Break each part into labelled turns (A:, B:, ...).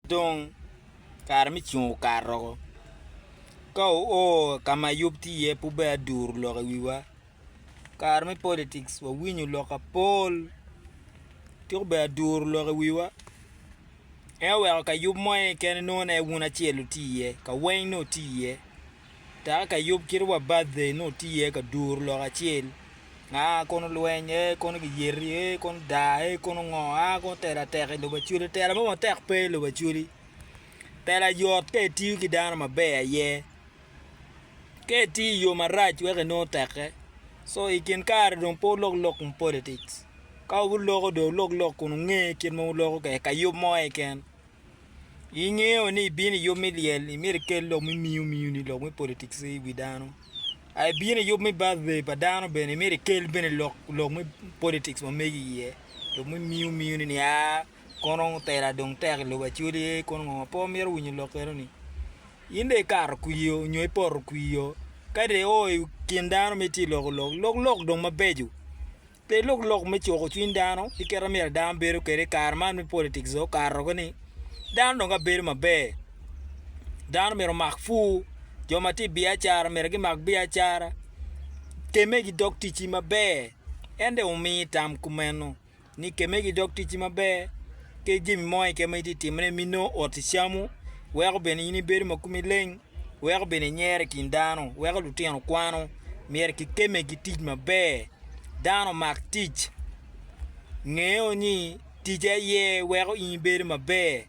A: Dong, kare me cung okato woko. Ka wuo ka ma yub tye iye pe wubed aduru lok i wiwa. Kare me politics wawinyo lok apol, tika obedo aduru lok i wiwa? En oweko ka yub mo keken inongo ni en wun acel wutye iye, ka weng nongo wutye iye. Taka ka yub kit wa birthday nongo tye iye ka duru lok acel aa kono lweny ee kono giyeti ee kono daa ee kono ngo aa kono tela tek ilobo Acholi tela mo matek pe ilobo Acholi tela yot ka itiyo ki dano maber aye ka itiyo iyo marac weko inongo teke so ikin kare dong pe wulok lok kom politics ka wuloko dong wulok lok kun wunge kit ma wuloko kwede kayub mo keken. Ingeyo ni ibino i yub me lyel, imyero ikel lok me miyo miyo ni lok me politics i wi dano. A ibino i yub me birthday pa dano bene, imyero ikel bene lok, lok me politics ma mege iye. Lok me miyo miyo ni aa, kono tela dong tek i lobo acwel ye, kono ngo ma pe wamito winyo lok keno ni. In dong ikato kwir o nyo ipoto kwir o, ka dong i o i kin dano ma itye ka loko lok, lok lok dong mabeco. Pe ilok lok me cuko cwiny dano ki kit ma myero dano bedo kwede i kare man me politics dong okato-ki ni dano dong ka bedo maber dano myero omak pur jo ma tye i biacara myero gimak biacara kemme gidog ticci maber en dong omi tam kumeno ni kemme gidog ticci maber ki jami mo keken ma itye ka timone ma inongo ot icamu weko bene in ibedo ma komi leng. weko bene inyero i kin dano, weko lutino kwano, myero kikemme ki tic maber, dano omak tic, ngeo ni tic aye weko in ibedo maber,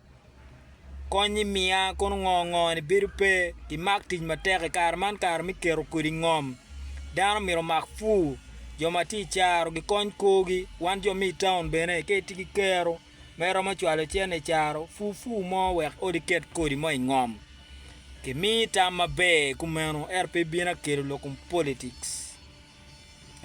A: kony-nyi miya kono ngo ngo ni bedo pe, imak tic matek i kare man kare me keto kodi ngom, dano myero omak pur, jo ma tye i caro gikony korgi, wan jo me i taun bene ka itye ki kero me romo cwalo cente i caro furfur mo wek odi ket kodi mo i ngom. Kimiyi tam maber kumeno ento pe ibin akelo lok kom politics.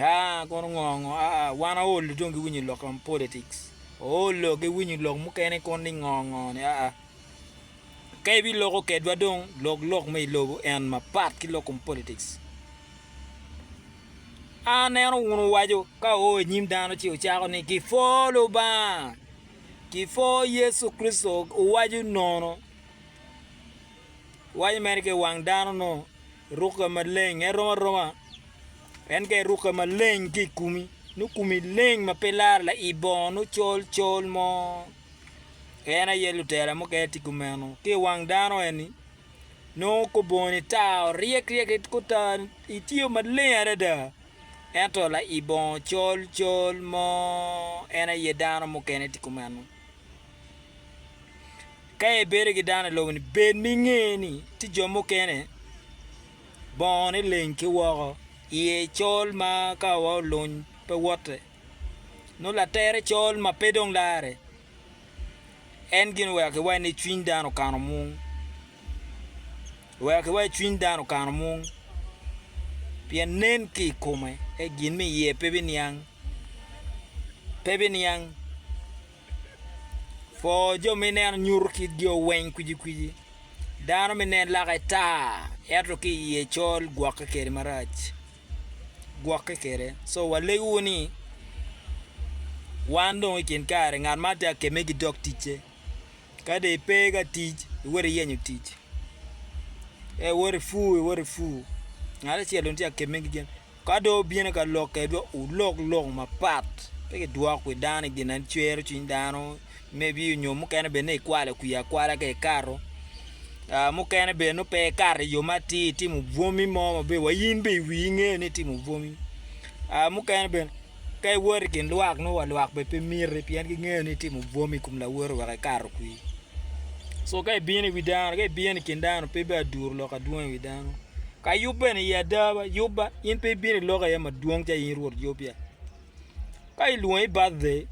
A: Aa, kono ngo ngo? Aa, wan aolo dong giwinyo lok kom politics. Oolo giwinyo lok mukene kono ni ngo ngo ni aa. Ka ibiloko kedwa dong lok lok me ilobo en mapat ki lok kom politics. A Neno wun owaco ka oo i nyim dano ci ocako ni, Kipwo Lubanga! Kipwo Yecu Kricito! Owaco nono. Owaco mere ki i wang dano nongo rukke maleng. En rom aroma. En ka irukke maleng ki i komi, nongo komi leng ma pe laro lai bongo nongo col col mo. En aye lutela mukene tye kumeno ki i wang dano eni. nongo kor bongoni tar, oryek ryek ki otar, itiyo maleng adada. Ento lai bongo col col mo en aye dano mukene tye kumeno. Ka ibedo ki dano i lobo-ni bed ma inge ni tye jo mukene bongone leng ki woko, iye col ma ka wa oluny pe wotte, nongo latere col ma pe dong larre. En gin oweko ki waci ni cwiny dano okano mung, oweko ki waci cwiny dano okano mung, pien nen ki i kome ento gin ma iye pe biniang, pe biniang, pwo jo ma ineno nyuto kitgi oweng kwiji kwiji, dano ma ineno lake tar ento ki iye col gwokke kwede marac. gwokke kwede. Co walegiwu ni, Wan dong i kin kare ngat man tye ka kemme ki dog ticce. Ka dong ipe ka tic, iwoto iyenyo tic, ka iwoto i pur, iwoto i pur. Ngat acel dong tye ka kemme ki gin. Ka dong obino ka lok kwedwa, wulok lok mapat, pe kidwok wi dano i gin ma cwero cwiny dano. maybe onyo mukene bed ni ikwalo kwi akwala ka ikato uh, mukene bed ni pe ikato iyo mati itimo bwomi mo maber wa in be iwi ingeyo ni itimo bwomi uh, mukene bed ka iwot i kin lwak nongo wa lwak be pe miti pien gingeyo ni itimo bwomi i kom lawoti wek ikato kwi so ka ibino i wi dano ka ibino i kin dano pe be aduru lok adwong i wi dano ka yub bene i adaba yubba in pe ibino i lok aye madwong ca in rwot yub ya ka ilwongi birthday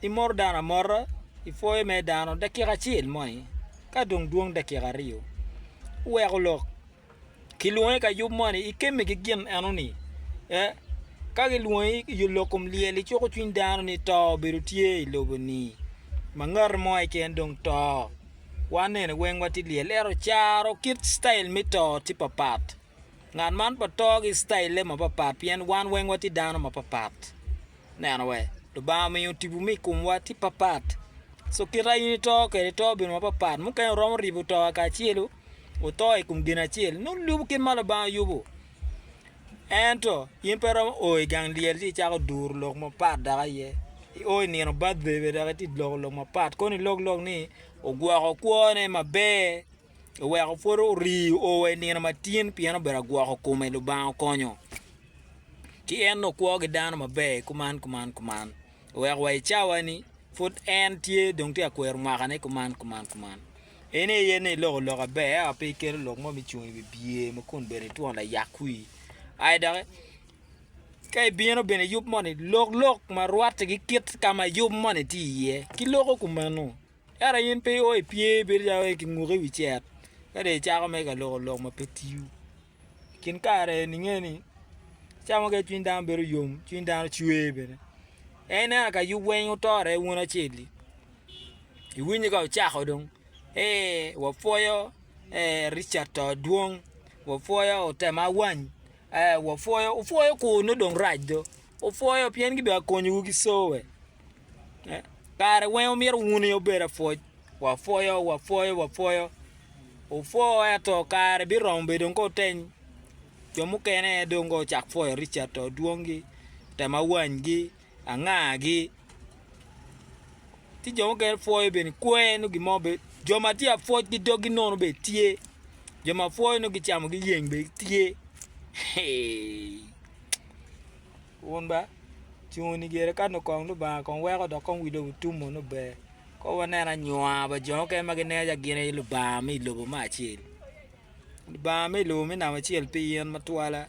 A: Imoto dano amota i pwoyo me dano dakika acel mo aye ka dong dwong dakika aryo weko lok kilwongi ka yub moni ikemme ki gin enoni ee ka gilwongi i lok kom lyel icuko cwiny dano ni to obedo tye i lobo ni ma ngati mo keken dong to wan eni weng watye lyel ento caro kit citail me to tye papat ngat man pa to ki citaile mapat pat pien wan weng watye dano mapat pat. neno wek Lubanga omiyo tipo me i komwa tye papat. So kit ma in ito kwede ito obedo mapapat. Mukene wuromo ribo to kacelu wuto i kom gin acel nongo ilubo kit ma Lubanga yubo. Ento in pe iromo o i gang lyel ci icako duru lok mapat dok aye. I o i nino batde bene dok itye ka loko lok mapat kono ilok lok ni ogwoko kwone maber. oweko pwod orii oo wa i nino matin pien obedo agwoko kome Lubanga okonyo ci en dong kwo ki dano maber kuman kuman kuman oweko wa i cawa ni pwod en tye dong tye ka kwero mwaka ne kuman kuman kuman en aye ni iloko loka ber ento pe iketo lok mo me cung i wi biye ma kun bene itwon layak wii ayi doki ka ibino bene iyub moni lok lok ma rwati ki kit ka ma yub moni tye iye ki loko kumeno Ento in pe io i pye bedo calo io ki nguko i wi cet ka dong icako mere ka loko lok ma pe tiyo. I kin kare eni inge ni ca mukene cwiny dano bedo yom, cwiny dano cwer bene. En ineno ka yub weng otore wun acel-li, iwinyo ka ocako dong ee wapwoyo ee Ricat to dwong, wapwoyo otema wany, ee wapwoyo, wupwoyo kur nongo dong rac do, wupwoyo pien gidong akonyowu ki coe. Kare weng omyero wuni obed apwoc wapwoyo wapwoyo wapwoyo opwo ento kare biromo bene dong ka oteng jo mukene dong ka ocak pwoyo Richard Odwongi, Tamawanygi, Angagi ci jo mukene pwoyo bene kwer nongo gin mo bene jo ma tye ka pwoc ki dogi nono bene tye jo ma pwoyo nongo gicamo giyeng bene tye. Wun ba, ci wun igere kan okong Lubanga kong weko dok kong wi lobo tum mono ber. Kong wanene anyua pa jo mukene ma gineno calo gin aye Lubanga me i lobo me acel. Lubanga me i lobo me namo acel pi yen matwala.